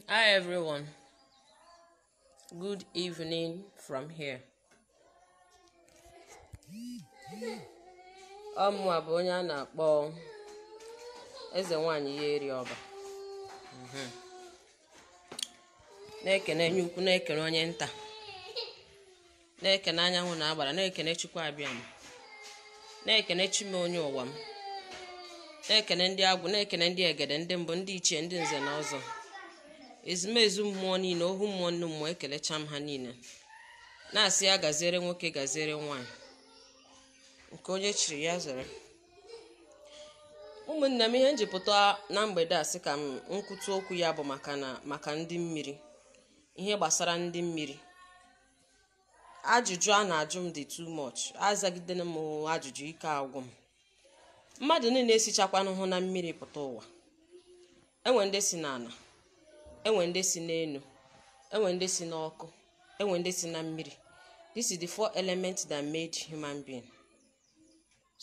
Hi everyone. Good evening from here. Ọmụwa bụ onye a na-akpọ eze nwanyị ya eri ọba. Mhm. na-ekene onye ukwu na-ekene onye nta na-ekene anyanwụ na agbara na-ekene chukwu abịama na-ekene chi m onye ụwa m na-ekene ndị agwụ na-ekene ndị egede ndị mbụ ndị ichie ndị nze na ọzọ ezumezu mmụọ niile ohu mmụọ nnu mmụọ ekelecha m ha niile na-asị ya gaziere nwoke gaziere nwaanyị nke onye chiri ya zere ụmụnne m ihe m ji pụta na mgbede a sị ka m kwutu okwu ya bụ maka ndị mmiri ihe gbasara ndị mmiri ajụjụ a na-ajụ m dị too much azagidena m ajụjụ ike agwụ m mmadụ niile esichakwanụhụ na mmiri pụta ụwa enwe ndị si n'ala enwe ndị si n'elu enwe ndị si n'ọkụ enwe ndị si na mmiri this is the four elements that made human being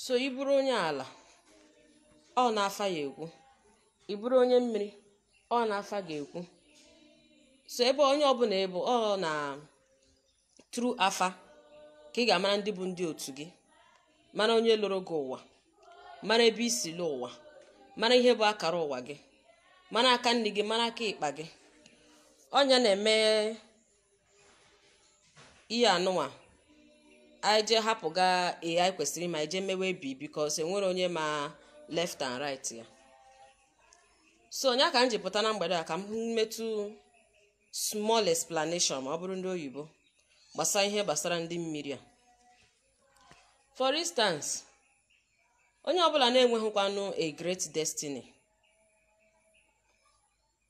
so ị bụrụ onye ala ọ na afa ga-ekwu ị bụrụ onye mmiri ọ na afa ga-ekwu so ebe onye ọbụla ị bụ ọ na through afa ka ị ga-amara ndị bụ ndị otu gị mara onye lọrọ gị ụwa mara ebe i si lọ ụwa mara ihe bụ akara ụwa gị mara aka nni gị mara aka ịkpa gị ọ nya na-eme ihe anụnwa anyị jee hapụga A anyị kwesịrị ma anyị jee mewe B because enwere onye ma left and right ya so ọ nya ka m ji pụta na mgbede a ka m metụ small explanation ma ọ bụrụ ndị oyibo gbasara ihe gbasara ndị mmiri a for instance onye ọbụla na-enwehụkwanụ a great destiny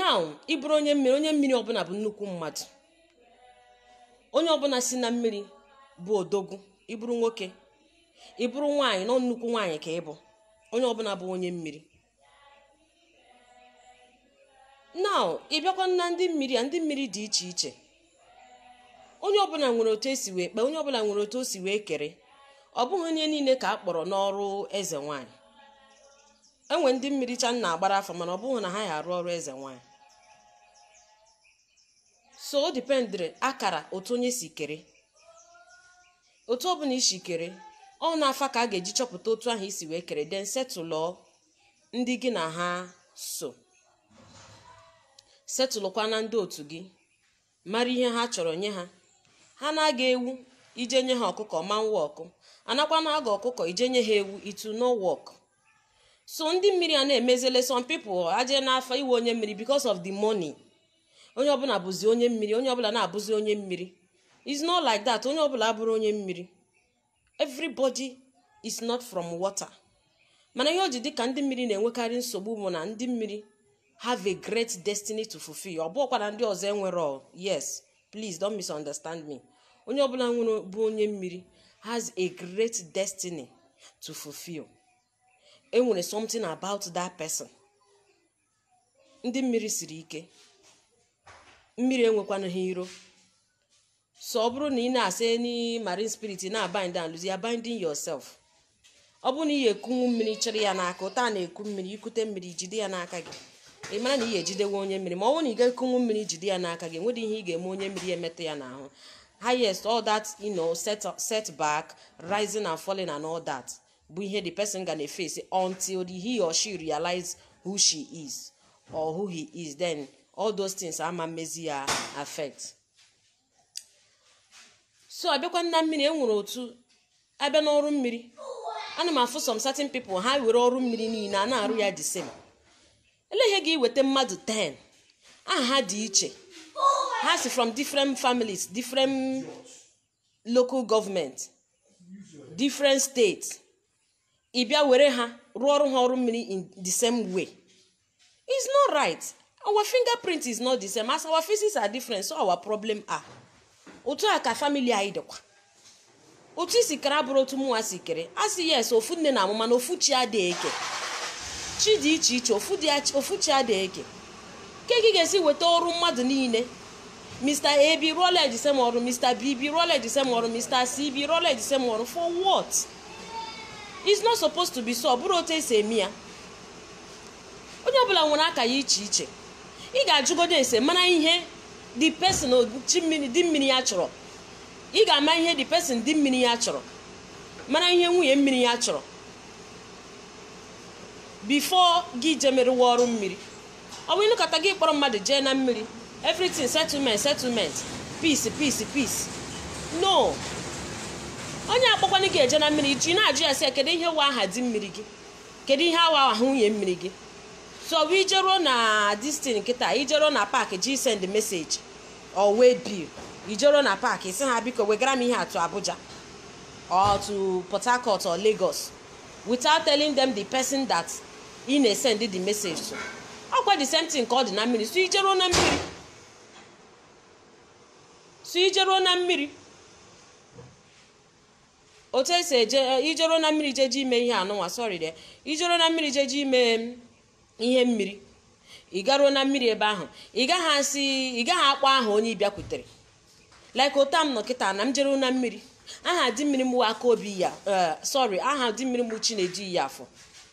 now ị bụrụ onye mmiri onye mmiri ọbụla bụ nnukwu mmadụ onye ọbụla si na mmiri bụ odogwu ị bụrụ nwoke ị bụrụ nwaanyị nọ nnukwu nwaanyị ka ị bụ onye ọbụla bụ onye mmiri now ị bịakwa na ndị mmiri a ndị mmiri dị iche iche onye ọbụla nwere otu e si wee kee onye ọbụla nwere otu o si wee kere ọ bụghị onye niile ka a kpọrọ n'ọrụ eze nwaanyị enwe ndị mmiri cha nna agbara afọ mana ọ bụghị na ha ya-arụ ọrụ eze nwaanyị so o dependịrị akara otu onye si kere otu ọbụla i si kere ọ n'afa ka a ga-eji chọpụta otu ahụ i si wee kere then settle ndị gị na ha so settlekwa na ndị otu gị mara ihe ha chọrọ nye ha ha na-aga ewu i je nye ha ọkụkọ ma nwa ọkụ anakwa na-aga ọkụkọ i je nye ha ewu it will not work so ndị mmiri a na-emezele some people e je n'afa ị wụ onye mmiri because of the money onye ọbụla bụzi onye mmiri onye ọbụla na-abụzi onye mmiri is not like that onye ọbụla abụrọ onye mmiri everybody is not from water mana ihe o ji dị ka ndị mmiri na-enwekarị nsogbu bụ na ndị mmiri have a great destiny to fulfill ọ bụrọkwa na ndị ọzọ enwerọ yes please don't misunderstand me onye ọbụla nwere bụ onye mmiri has a great destiny to fulfill enwere something about that person ndị mmiri siri ike mmiri enwekwana ha iro so ọ bụrụ na ị na-asị any marine spirit na-abind and loose you are binding yourself ọ bụrụ na ị ekunwu mmiri chịrị ya n'aka otu a na-eku mmiri i kute mmiri jide ya n'aka gị ị mara na ị ejidewe onye mmiri ma ọ bụrụ na ị ga-ekunwu mmiri jide ya n'aka gị enwedị ihe ị ga-eme onye mmiri emetụ ya n'ahụ highest all that you know set, setback rising and falling and all that bụ ihe the person ga na-eface until the he or she realize who she is or who he is then all those things ama emezi ya affect so a bịakwa na mmiri enwere otu a bịa n'ọrụ mmiri ana m afụ some certain people ha were ọrụ mmiri niile a na-arụ ya the same ele ihe ga-eweta mmadụ 10 aha ha dị iche ha si from different families different local government different state ị bịa were ha rụọ ọrụ ha ọrụ mmiri in the same way it's not right our fingerprint is not the same as our faces are different so our problem are otu a ka family anyị dịkwa otu i si kere abụrọ otu mụnwa si kere a sị yes ofu nne na-amụ mana ofu chi adịghị eke chi dị iche iche ofu dị ach- ofu chi adịghị eke ke gị ga-esi weta ọrụ mmadụ niile Mr. A bịa ị rụọla ya the same ọrụ Mr. B bịa ị rụọla ya the same ọrụ Mr. C bịa ị rụọla ya the same ọrụ for what? It's not supposed to be so ọ bụrọ otu e si eme ya onye ọbụla nwere aka ya iche iche ị ga-ajụgodo ese mara ihe the person chi mmiri di mmiri ya chọrọ ị ga-ama ihe the person di mmiri ya chọrọ mara ihe nwunye mmiri ya chọrọ before gị je merewa ọrụ mmiri ọ bụ ịnọkata gị kpọrọ mmadụ jee na mmiri everything settlement settlement peace peace peace no onye akpọkwana gị eje na mmiri gị na-ajụ ya sị ya kedu ihe wụ aha di mmiri gị kedu ihe wụ aha nwunye mmiri gị so ọ bụ i jeruo na this thing kịta i jeruo na park ije send message or waybill i jeruo na park ị sị ha biko wegara m ihe a to abuja or to port harcourt or lagos without telling them the person that ị na-esend the message to ọkwa the same thing ka ọ dị na mmiri so ijeruo na mmiri so ijeruo na mmiri otu esi eje eh, ijeruo na mmiri jeje ime ihe a nụnwa sorry dear ijeruo na mmiri jeje ime mm, ihe mmiri ị garuo na mmiri ebe ahụ ị gaghị asị ị gaghị akpọ aha onye ị bịakwutere like otu m nọ kịta na m jeruo na mmiri aha di mmiri m wụ aka obi ya eh, sorry aha di mmiri m bụ chinedu iyi afọ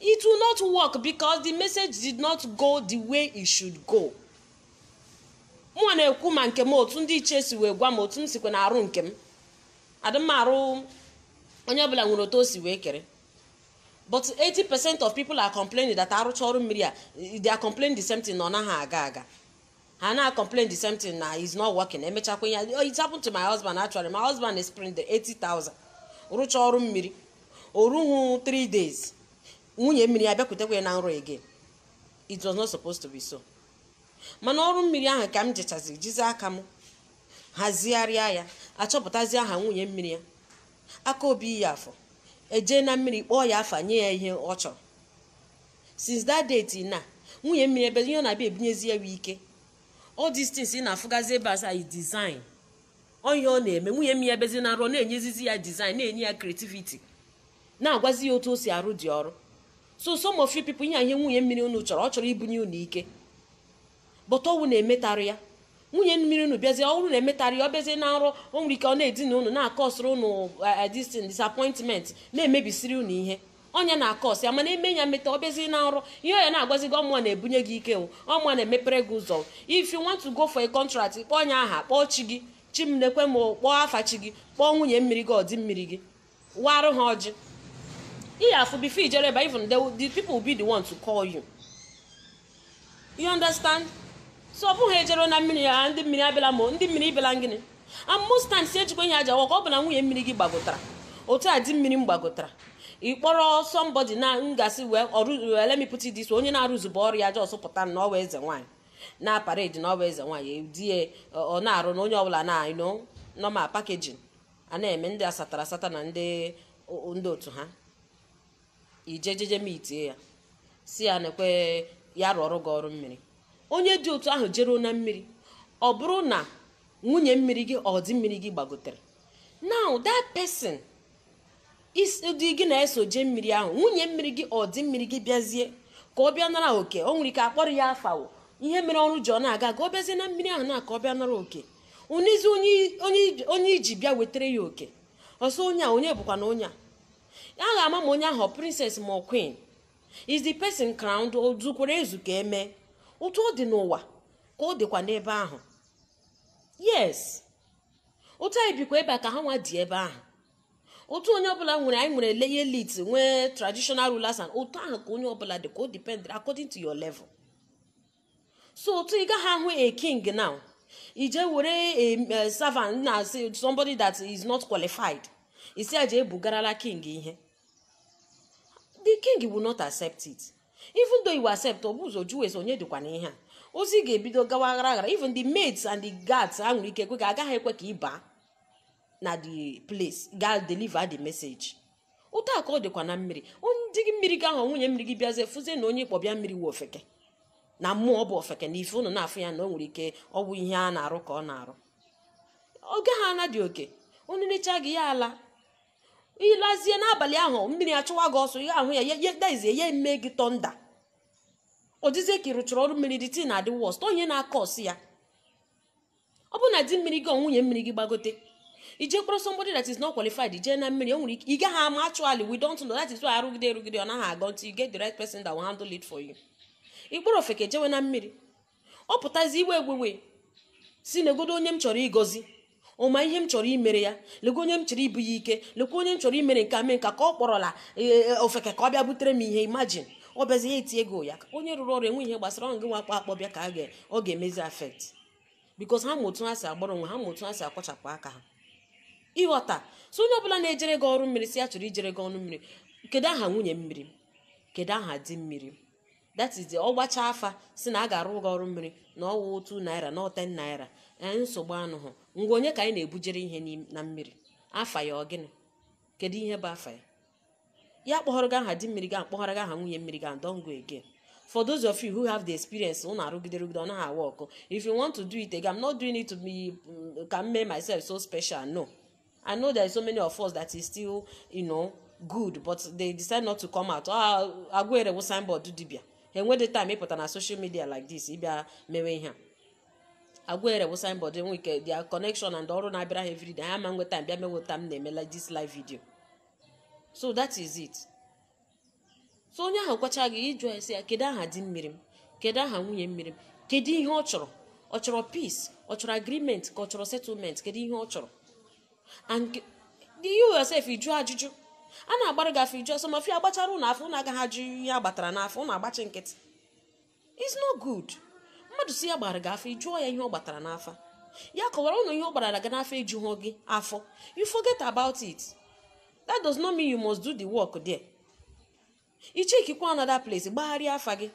It will not work because the message did not go the way it should go. mụnwa na-ekwu ma nke m otu ndị ichie si wee gwa m otu m sikwa na-arụ nke m adị m arụ onye ọbụla nwere otu o si wee kere but 80% of people are complaining that arụcha ọrụ mmiri a they are complaining the same thing na ọ naghị aga aga ha na-acomplain the same thing na it's not working emechakwa ya oh, it happened to my husband actually my husband spendịrị 80,000 rụcha ọrụ mmiri o ruhu 3 days nwunye mmiri ya abịakwutekwa ya na nrọ again it was not supposed to be so mana ọrụ mmiri ahụ ka m jechazi jizi aka m hazigharịa ya achọpụtazi aha nwunye mmiri ya aka obi iyi afọ eje na mmiri kpọọ ya afa nye ya ihe ọ chọrọ since that day till now nwunye mmiri ya bịazi ihe ọ na-abịa ebunyezi ya bụ ike all these things ị na-afụgazi ebe asa yi design onye ọ na-eme nwunye mmiri ya bịazi na nrọ ọ na-enyezizi ya design na-enye ya creativity na-agwazi ya otu o si arụ the ọrụ so some of you people ihe a ihe nwunye mmiri unu chọrọ ọ chọrọ ibunye unu ike but ọ wụ na emetarọ ya nwunye mmiri unu bịazie ọ bụrụ na emetarọ ya ọ bịazie na nrọ o nwere ike ọ na-edina unu na-acausịrị unu distin disappointment na-emebisiri unu ihe ọ ya na-acause ya mana eme ya meta ọ bịazie na nrọ ihe ọ ya na-agwazi gị ọ mụwa na-ebunye gị ike ọ mụwa na-emepere gị ụzọ if you want to go for a contract kpọọ onye aha kpọọ chi gị chi m nekwe m kpọọ afa chi gị kpọọ nwunye mmiri gị or di mmiri gị warụ ha ọjị ihe afụ before ijere ebe even the, the people will be the one to call you you understand so ọ bụghị ejere na mmiri ya ndị mmiri abịala ma ndị mmiri ịbịala gịnị and most times ejikwa ihe aja waka ọ bụ na nwunye mmiri gị gbagotara otu a di mmiri m gbagotara ị kpọrọ somebody na ngasị wee ọrụ wee let me put it this way, onye na-arụzube ọrụ ya just pụta na ọ wụ eze nwaanyị na-aparade na ọ wụ eze nwaanyị di ya ọ na-arụ na onye ọbụla na normal packaging a na-eme ndị asatara asata na ndị ndị otu ha ije jeje meetie ya sị ya nekwe ya rụọrụ gị ọrụ mmiri onye dị otu ahụ jeruo na mmiri ọ bụrụ na nwunye mmiri gị or di mmiri gị gbagotere now that person dị gị na ya so jee mmiri ahụ nwunye mmiri gị or di mmiri gị bịazie ka ọ bịa nara oke o nwere ike akpọrọ ya afa wụ ihe mere ọrụ ji ọ na-aga aga ọ bịazie na mmiri ahụ na ka ọ bịa nara oke o nezie onye onye onye i ji bịa wetara ya oke ọ sị onye a onye bụkwanụ onye a a ga-ama ma onye ahụ ọ princess ma ọ queen is the person crowned o zukwara ezu ka eme otu ọ dị n'ụwa ka ọ dịkwa n'ebe ahụ yes otu anyị bikwa ebe a ka ha nwa dị ebe ahụ otu onye ọbụla nwere anyị nwere the elite nwee traditional rulers and otu ahụ ka onye ọbụla dị ka o depend according to your level so otu ị gaghị ahụ a king now i je were a servant na somebody that is not qualified ị sị ya jee bugara the king ihe the king will not accept it even though you accept o bu ụzọ jụọ ese onye dịkwa n'ihe a ozi ga-ebido gawa aghara aghara even the maids and the guards ha nwere ike kwe ka agaghị ekwe ka ị baa na the place ga deliver the message otu a ka ọ dịkwa na mmiri di gị mmiri gị ahụ nwunye mmiri gị bịazie fụzie na onye ị kpọ bịa mmiri wụ ofeke na mmụọ ọ bụ ofeke na ife unu na-afụ ya na o nwere ike ọ bụ ihe a na-arụ ka ọ na-arụ ọ gaghị anadị oke o necha gị ya alaa ị lazie n'abalị ahụ mmiri achụwa gị ọsọ ihe ahụ ya ya- ya daizie ya eme gị thunder ọ dịzie ka ị rụchara ọrụ mmiri the thing adị worst ihe na-acause ya ọ bụ na di mmiri gị ọ nwunye mmiri gị gbagote i je kpọrọ somebody that is not qualified jee na mmiri o nwere ike ị gaghị ama actually we don't know that is why arụgide arụgide ọ naghị aga until you get the right person that will handle it for you ị kpọrọ ofeke jewe na mmiri ọ pụtazi iwe ewewe sị negodo onye m chọrọ ịgọzi ụmụ ihe m chọrọ imere ya lekwa onye m chọrọ ibu ya ike lekwa onye m chọrọ imere nke a mee nke a ka ọ kpọrọla ee, ofeke ka ọ bịa butere m ihe imagine ọ bịazi ya eti ego ya onye rụrụ ọrụ enwe ihe gbasara ọ ngị nwa akpa akpọ bịa ka a ga- ọ ga-emezi affect because ha ma otu ha si agbara onwe ha ma otu ha si akwachapụ aka ha ị ghọta so onye ọbụla na-ejere gị ọrụ mmiri sị ya chọrọ ijere gị ọrụ mmiri kedu aha nwunye mmiri kedu aha di mmiri that is ọ gbacha afa sị na a ga-arụ gị ọrụ mmiri na ọ wụ two naira na ọ ten naira ee nsogbu anọhụ ngwa onye ka anyị na-ebujere ihe n'im- na mmiri afa ya ọ gịnị kedu ihe bụ afa ya ya akpọhọrọ gị aha di mmiri gị akpọhọrọ gị aha nwunye mmiri gị don't go again for those of you who have the experience unu arụgide rụgide ọ naghị awork if you want to do it again i'm not doing it to be mm, ka m mee myself so special no i know there are so many of us that is still you know good but they decide not to come out ah ọgwụ ire wụ signboard dibia enwedị time ịpụta na social media like this ịbịa mewe ihe a ọgwụ ire wụ signboard enwe ike their connection and ọrụ na-abịara ha everyday ha ma nwe time bịa mewe etu m na-eme like this live video so that is it so onye ahụ kwacha gị ị jụọ sị ya kedu aha di mmiri m kedu aha nwunye mmiri m kedu ihe ọ chọrọ ọ chọrọ peace ọ chọrọ agreement ka ọ chọrọ settlement kedu ihe ọ chọrọ and you yourself ịjụ ajụjụ a na-agbara gị afa ị jụọ some of you a gbachara ụnụ afa ụnụ agaghị ajụ ihe a gbatara n'afa ụnụ agbachi nkịtị is no good mmadụ si ya gbara gị afa ị jụọ ya ihe ọ gbatara n'afa ya kọwara ụnụ ihe ọ gbarara gị n'afa o juhu gị afọ you forget about it that does not mean you must do the work there ichekikwa another place gbagharịa afa gị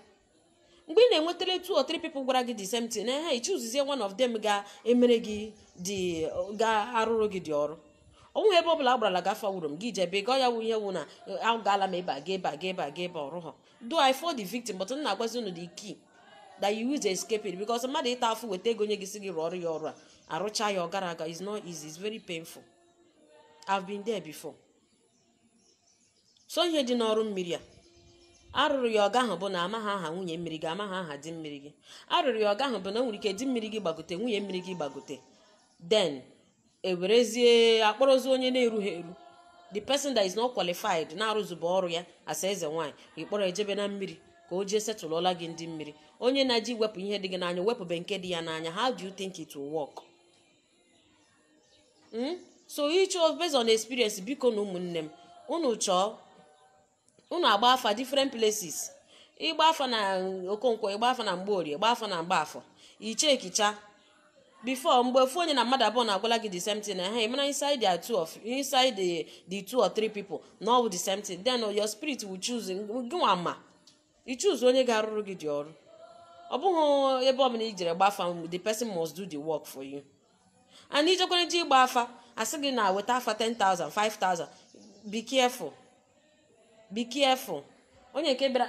mgbe ị na-enwetara two or three people gwara gị the same thing na ha ichuzizie one of them ga-emere gị the ga-arụrụ gị the ọrụ ọ wụhụ ebe ọ bụla a gbarala gị afa wuru m gị jebe gọ ya wụ ihe wụ na agaala m ebe a ga ebe a ga ebe a ga ebe ọrụ ha though i fall the victim but m na-agwazi unu the key that you use escape it because mmadụ ịta afụ weta ego nye gị si gị rụọ ọrụ ya ọrụ a arụcha ya ọ gara aga is not easy it's very painful i've been there before so ihe dị n'ọrụ mmiri a arụrụ ya ọ gahụ bụ na amaghị aha nwunye mmiri gị amaghị aha di mmiri gị arụrụ ya ọ gahụ bụ na o nwere ike di mmiri gị gbagote nwunye mmiri gị gbagote then ewerezie akpọrọzi onye na-erughị eru the person that is not qualified na-arụzube ọrụ ya as eze nwaanyị ịkpọrọ ejebe na mmiri ka o jee setụlụọla gị ndị mmiri onye na-eje iwepụ ihe dị gị n'anya ewepụbe nke dị ya n'anya how do you think it will work? Hmm? so ịchọ based on experience biko nụ ụmụnne m unu chọọ unu agba afa different places ịgba afa na okonkwo ịgba afa na mgborie gba afa na mgbafọ ichekicha before mgbe ofu onye na mmadụ abụọ na-agwala gị the same thing na ha ịmara inside the two of inside the the two or three people na ọ bụ the same thing then your spirit will choose gị nwa ma i choose onye ga-arụrụ gị the ọrụ ọ bụghị ebe ọbụla i jere gba afa the person must do the work for you and ijekwere ji ịgba afa asị gị na weta afa 10,000 5,000 be careful be careful onye nke bịara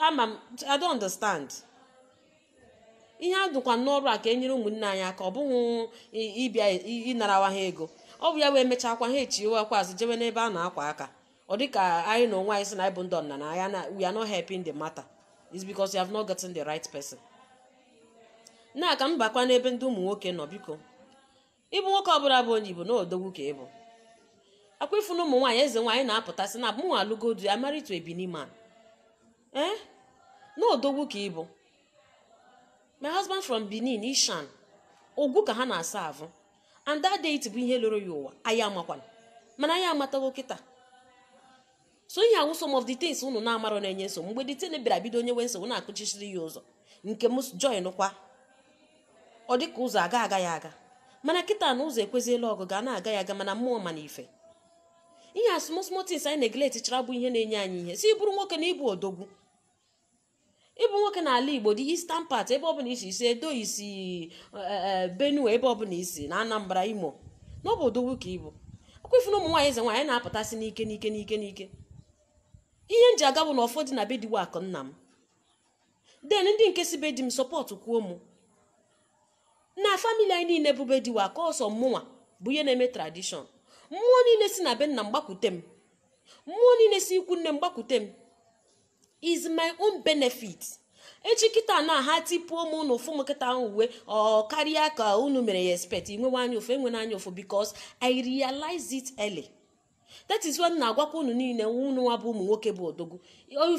ama m i don't understand ihe a dụkwa n'ọrụ a ka e nyere ụmụnne anyị aka ọ bụghị ịbịa ịnarawa ha ego ọ bụ ya wee mechakwa ha echiwekwa azụ jewe n'ebe a na-akwa aka ọ dị ka anyị na onwe anyị sị na anyị bụ ndị ọdịnala anya na we are not helping the matter is because you have not gotten the right person now ka m bakwa n'ebe ndị ụmụ nwoke nọ biko ịbụ nwoke ọbụla bụ onye Igbo na odogwu ka ịbụ ọkwa ị fụ na ụmụ nwaanyị eze nwaanyị na-apụta sị na mụ alụgo di ya married to a Benin man ee na odogwu ka ịbụ my husband from Benin Ishan Ogun ka ha na-aserve and that deity bụ ihe lọrọ ya ụwa anyị amakwana mana anyị amatago kịta so ihe a wụ some of the things unu na-amarọ na-enye nsogbu mgbe the thing bịara bido o nyewe nsogbu na-akụchisiri ya ụzọ nke m join kwa ọ dị ka ụzọ aga aga ya aga mana kịta na ụzọ ekweziela ọgụga na-aga ya aga mana mmụọ ma na ife ihe a small small things anyị neglect chara bụ ihe na-enye anyị ihe so ị bụrụ nwoke na ịbụ odogwu ị bụ nwoke n'ala igbo the eastern part ebe ọbụla i si i si edo i si e, e, benue ebe ọbụla i si na anambra imo na ọ bụ odogwu ka ị bụ ọkwa ị fụ na ụmụ nwaanyị eze nwaanyị na-apụtasị n'ike n'ike n'ike n'ike ihe m ji aga bụ na ọfọ dị na be diwe akụ nna m then ndị nke si be di m sọpọtụkwuo mụ na family anyị niile bụ be diwe akụ ọ sọ mụnwa bụ onye na-eme tradition mmụọ niile si na be nna m gbakwute m mmụọ niile si ikwu nne m gbakwute m is my own benefit echi kịta na ha tipuo m unu afụ m kịta ahụ uwe ọ karịa ka unu mere ya expect i nwewe anya ụfụ enwena anya ụfụ because i realize it early that is why m na-agwakwa unu niile unu nwa bụ ụmụ nwoke bụ odogwu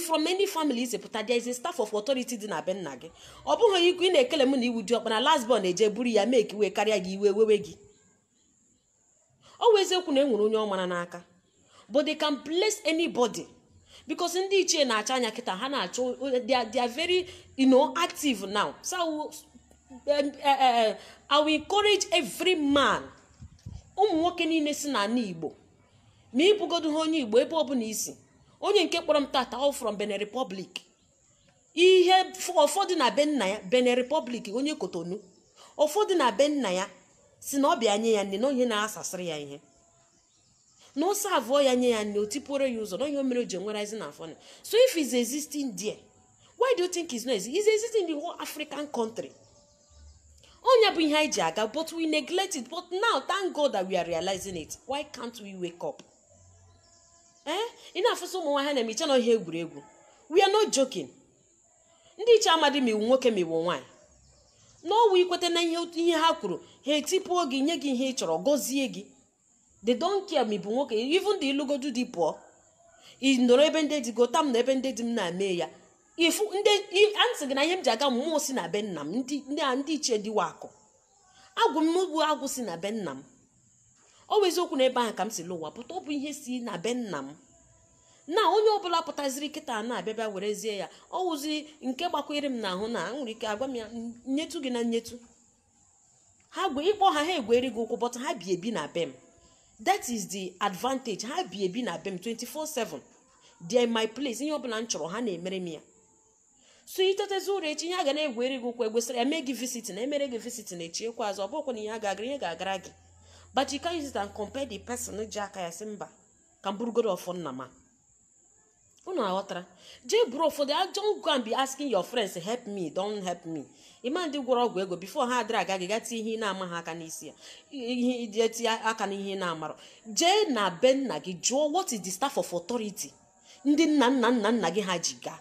from any family i si pụta there is a staff of authority dị na be nna gị ọ bụghị ikwu ị na-ekele m na ị wụ diọkpara last born eje buru ya make iwe karịa gị iwe wewe gị ọ wụ eziokwu na e nwere onye ọ mara n'aka but they can bless anybody because ndị ichie na-acha anya kịta ha na-achọ they are- they are very you know, active now so I will, um, uh, uh, I will encourage every man ụmụ nwoke niile si n'ala igbo ma ị bụgodu ha onye igbo ebe ọbụla i si onye nke kpọrọ m tata ọ from benin republic ihe ọfọ dị na be nna ya benin republic onye cotonou ọfọ dị na be nna ya sị na ọ bịa nye ya nni na onye na-asasịrị ya ihe na ọ servụọ ya nye ya nni o tipuoro ya ụzọ na ihe o mere o ji ekwerezi na ọfọ so if is existing there why do you think is not existing is existing in the whole african country ọ nya bụ ihe anyị ji aga but we neglect it but now thank god that we are realizing it why can't we wake up ee ị na-afụsị ụmụ nwaanyị na-eme i che na ihe egwuregwu we are not joking ndị ichie amadị ma ị wụ nwoke ma ị wụ nwaanyị na ọ wụ i kweta na ihe ihe ha kwuru ha etipuo gị nye gị ihe ị chọrọ gọzie gị they don't care ma ị bụ nwoke even the ị lụgodu di pụọ ị nọrọ ebe ndị di gota m na ebe ndị di m na-eme ya ị fụ ndị i- a m sị gị na ihe m ji aga mmụọ si na be nna m ndị ndị a- ndị ichie dịwa akụ agwụ m bụ agwụ si na be nna m ọ bụ eziokwu na ebe ahụ ka m si lụwa pụta ọ bụ ihe si na be nna m na onye ọbụla pụtaziri kịta na-abịa bịa werezie ya ọ wụzi nke gbakwere m n'ahụ na nwere ike agwa m ya nyetu gị na nyetu ha gwe ị kpọ ha ha egweri gị ụkwụ but ha bi ebi na be m that is the advantage ha bi ebi na be m 24/7 they are my place ihe ọbụla m chọrọ ha na-emere m ya so i tetezi ụra echi ihe a ga na-egweri gị ụkwụ egwesịrị ya mee gị visit na emere gị visit na echi ekwe azụ ọ bụkwa na ihe a ga-agara ihe ga-agara gị but you can't use it and compare the person ji aka ya sị mba ka m burugodu ọfọ nna m a unu aghọtara jee buru ọfọ don't go and be asking your friends help me don't help me ị ma ndị gwọrọ ọgwụ ego before ha adịrị aga gị ga tinye ihe ị na-amaha aka n'isi ya ihe i ji etinye aka n'ihe ị na-amarọ jee na be nna gị jụọ what is the staff of authority ndị nna nna nna nna gị ha ji gaa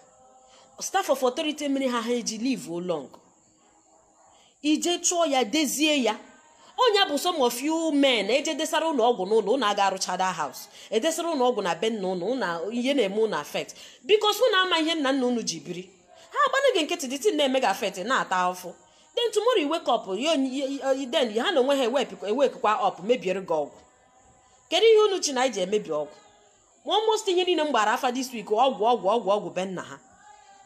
staff of authority mere ha ha eji live long ije chụọ ya dezie ya ọ ya bụ some of you men eje desara unu ọgwụ n'ụlọ unu aga arụcha the house edesara unu ọgwụ na be nna unu na ihe na-eme unu affect because unu ama ihe nna nna unu ji biri ha agbana gị nkịtị the thing na-eme gị affect na-ata afụfụ then tomorrow you wake up then ha na onwe ha ewakekwa up mebiere gị ọgwụ kedu ihe unu che na anyị ji emebi ọgwụ ma almost ihe niile m gbara afa this week ọgwụ ọgwụ ọgwụ ọgwụ be nna ha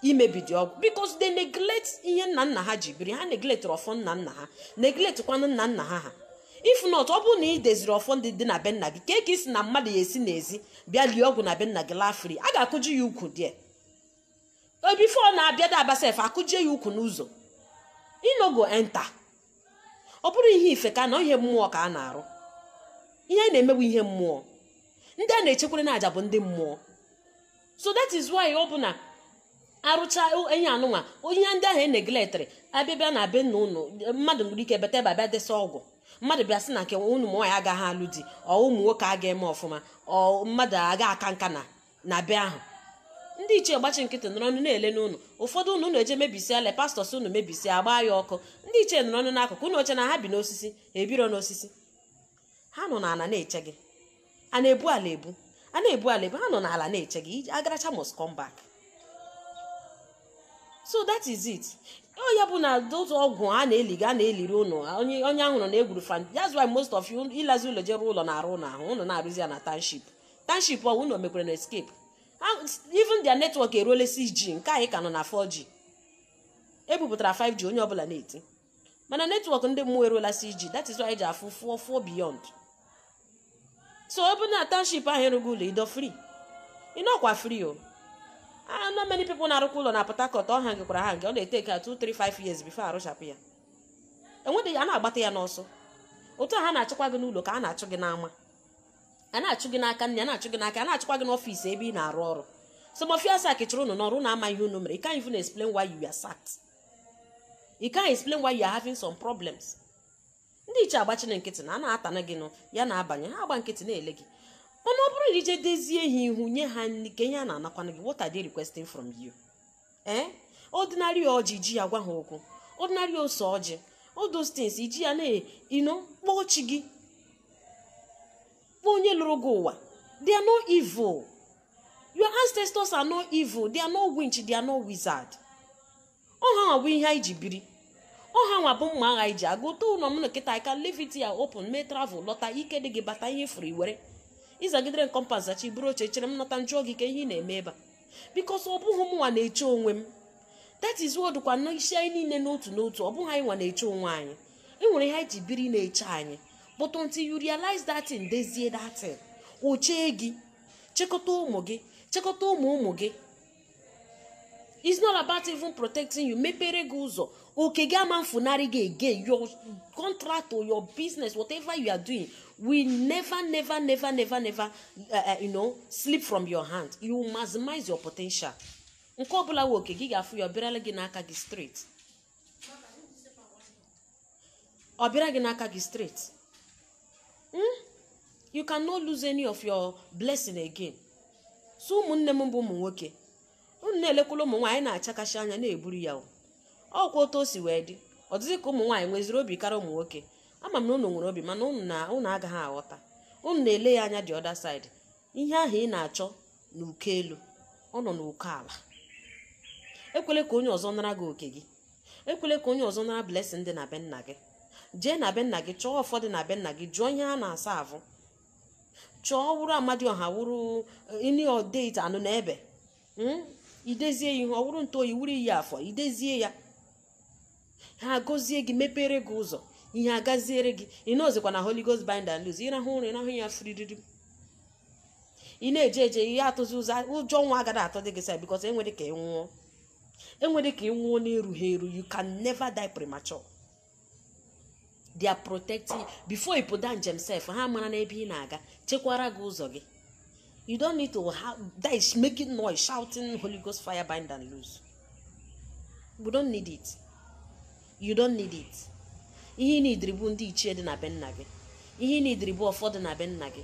imebi dị ọgwụ because they neglect ihe nna nna ha ji biri ha neglect ọfọ nna nna ha neglect kwanụ nna nna ha ha if not ọ bụrụ na ị deziri ọfọ ndị dị na be nna gị kee ka ị sị na mmadụ ya esi n'ezi bịa lie ọgwụ na be nna gị laa free a ga-akụji ya ụkwụ die before na-abịadị abịa sef akụjie ya ụkwụ n'ụzọ e no go enter ọ bụrọ ihe ife ka a na ọ ihe mmụọ ka a na-arụ ihe anyị na-eme bụ ihe mmụọ ndị a na-ejekwuru n'aja bụ ndị mmụọ so that is why ọ bụ na arụcha enyi anụnwa ihe ndị ahụ e neglectiri abịabịa na be nna ụnụ mmadụ nwere ike bata ebe a bịa desa ọgwụ mmadụ bịa sị na nke ụnụ ụmụ nwaanyị agaghị alụ di or ụmụ nwoke aga eme ọfụma or mmadụ aga aka nka na na be ahụ ndị ichie gbachi nkịtị nọrọ ọnụ na-elene ụnụ ụfọdụ ụnụ ụnụ eje mebisia le pastors ụnụ mebisia agbaa ya ọkụ ndị ichie nọrọ ọnụ n'akụkụ ụnụ eche na ha bi n'osisi ebiro n'osisi ha nọ n'ala na-eche gị a na-ebu ala ebu a na-ebu ala ebu ha nọ n'ala na-eche gị agaracha must come back so that is it ọ ya bụ na those ọgwụ a na-eliga a na-eliri ụnụ onye ahụ nọ na-egwuru fan that's why most of you ịlazi ụlọ je rụọ ụlọ na-arụ ụlọ ahụ ụnụ na-arụzi ya na township township ọ wụ na omekwere na escape even their network eruola 6G nke anyị ka nọ na 4G ebupụtara 5G onye ọbụla na-eti mana network ndị mmụọ eruola 6G that is why eji afụ far far beyond so ọ bụ na township ahụ ị rụgo ụlọ ido free ịnọkwa free o ana many people na-arụkwa ụlọ na Port Harcourt ọ hangkwara ha nke ọ na-etake 2 3 5 years before arụchapụ ya enwedịghị a na-agbata ya n'ọsọ otu a ha na-achụkwa gị n'ụlọ ka a na-achụ gị n'ama a na-achụ gị n'aka nne a na-achụ gị n'aka a na-achụkwa gị n'ọfịs ebe ị na-arụ ọrụ some of you are sacked chụrụ unu n'ọrụ unu ama ihe unu mere you can't even explain why you are sacked you can't explain why you are having some problems ndị ichie agbachina nkịtị na a na-atana gị nụ ya na-abanye ha agba nkịtị na-ele gị mana ọ bụrụ na ije dezie ha ihu nye ha nri kee ihe ha na-anakwanụ gị what are they requesting from you ee ordinary ọjị ji ya gwa ha okwu ordinary ose ọjị all those things iji ya you know kpọọ chi gị kpọọ onye lụrụ gị ụwa they are not evil your ancestors are not evil they are not witch they are not wizard ọ ha nwa bụ ihe anyị ji biri ọ ha nwa bụ mma agha anyị ji aga otu ụlọ m nọ kịta I can leave it here open mee travel lọta ike dị gị bata ihe furu iwere ịzagidere nkompas zachi buru oche chere m nọta m jụọ gị kee ihe ị na-eme ebe a because ọ bụghị mụnwa na-eche onwe m that is ka ọ dịkwa n'isi anyị niile n'otu n'otu ọ bụghị anyị nwa na-eche onwe anyị e nwere ihe anyị ji biri na-eche anyị but until you realize that thing dezie that thing o chee gị chekọta ụmụ gị chekọta ụmụ ụmụ gị it's not about even protecting you mepere gị ụzọ oke gị ama efunarị gị again your contract or your business whatever you are doing will never never never never never uh, uh, you know slip from your hand you maximize your potential nke ọbụla wụ oke gị ga-afụ ya ọ bịarala gị n'aka gị straight ọ bịara gị n'aka gị straight Hmm? you cannot lose any of your blessing again so ụmụnne m bụ ụmụ nwoke unu na-elekwala ụmụ nwaanyị na-achakashi anya na-eburu ya ọkwa otu o si wee dị ọ dịzị ka ụmụ nwaanyị nweziri obi karịa ụmụ nwoke ama m na unu nwere obi mana unu agaghị aghọta unu na-ele ya anya the other side ihe ahụ ị na-achọ n'uko elu ọ nọ n'uko ala ekwele ka onye ọzọ nara gị oke gị ekwele ka onye ọzọ nara blessing dị na be nna gị jee na be nna gị chọọ ọfọ dị na be nna gị jụọ ihe a na-aserve chọọ ọ wụrụ amadioha wụrụ you know that anụnụebe mm? idezie ya ihe ọ wụrụ ntụ oyi wụrụ iyi afọ idezie ya ha agọzie gị mepere gị ụzọ ihe agaziere gị ị nọzikwa na Holy Ghost bind and loose ịrahụ ụra ịrahụ ya fririri ị na-eje eje ihe atụzi ụjọ ụjọ ọnwụ agaghị atụdị gị sef because enwere ka ị nwụọ enwere ka ị nwụọ n'erughị eru you can never die premature they are protecting before ị pụda njem sef ha mara n'ebe ị na-aga chekwara gị ụzọ gị you don't need to have that is making noise shouting holy ghost fire bind and loose we don't need it you don't need it ihe ị needịrị bụ ndị ichie dị na be nna gị ihe ị needịrị bụ ọfọ dị na be nna gị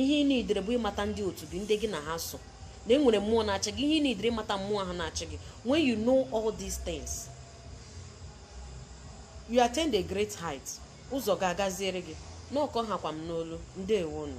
ihe ị needịrị bụ ịmata ndị otu gị ndị gị na ha so na enwere mmụọ na-achị gị ihe ị needịrị ịmata mmụọ ahụ na-achị gị when you know all these things you attain a great height ụzọ ga-agaziere gị na ọ ka ọ hakwa m n'olu ndewonụ